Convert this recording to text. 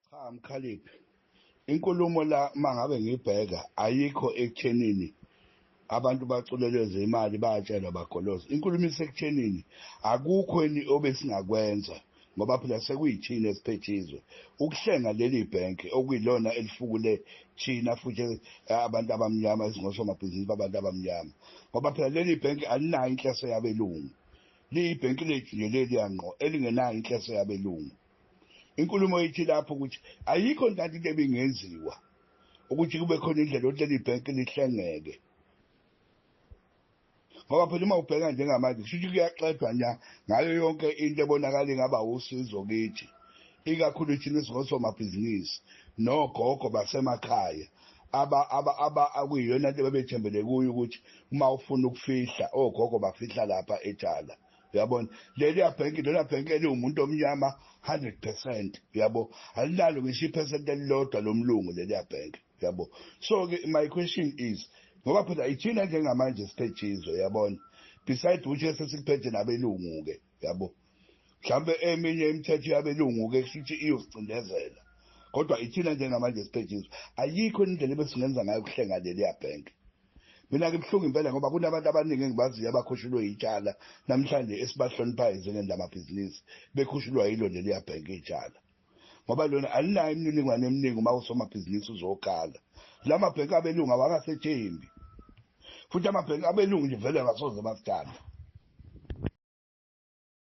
Cha Mkhaliphi, inkulumo la mangabe ngibheka ayikho ekuthenini abantu baculeleze imali bayatshelwa bagoloza. Inkulumo isekuthenini akukho ni obesingakwenza ngoba phela sekuyithina esiphethe izwe. Ukuhlenga leli bhenki okuyilona elifukule thina futhi eh, abantu abamnyama esingosomabhizinisi babantu abamnyama. Ngoba phela leli bhenki alinayo inhleso yabelungu. Liyibhenki lethu nje leliya ngqo elingenayo inhleso yabelungu. Inkulumo ithi lapho ukuthi ayikho ntanto into ebingenziwa ukuthi kube khona indlela ukuthi leli bhenki lihlengeke ngoba phela uma ubheka njengamanje kusho ukuthi kuyaxedwa nya ngayo yonke into ebonakala ingaba usizo kithi ikakhulu thina singosomabhizinisi nogogo basemakhaya akuyiyona nto bebethembele kuyo ukuthi uma ufuna ukufihla ogogo bafihla lapha ethala uyabona leliya bhenki lona bhenki eliwumuntu omnyama 100 percent uyabo alinalo ngisho iphesenti elilodwa lomlungu leliya bhenki uyabo so-ke my question is ngoba phela ithina njengamanje siphethe izwe uyabona beside ukuthi esesikuphethe nabelungu-ke uyabo mhlawumbe eminye imithetho yabelungu-ke kusho ukuthi iyosicindezela kodwa ithina njengamanje siphethe izwe ayikho indlela ebesingenza ngayo kuhlenga leliya bhenki Mina ngibuhlungu impela ngoba kunabantu abaningi engibaziyo abakhushulwe yitshala namhlanje esibahloniphayo njengendamabhizinisi bekhushulwa yilo leliya bhenki itshala ngoba lona alinayo imininingwane eminingi uma usomabhizinisi uzokhala la mabhenki abelungu awangasethembi futhi amabhenki abelungu nje vele angasoze basithanda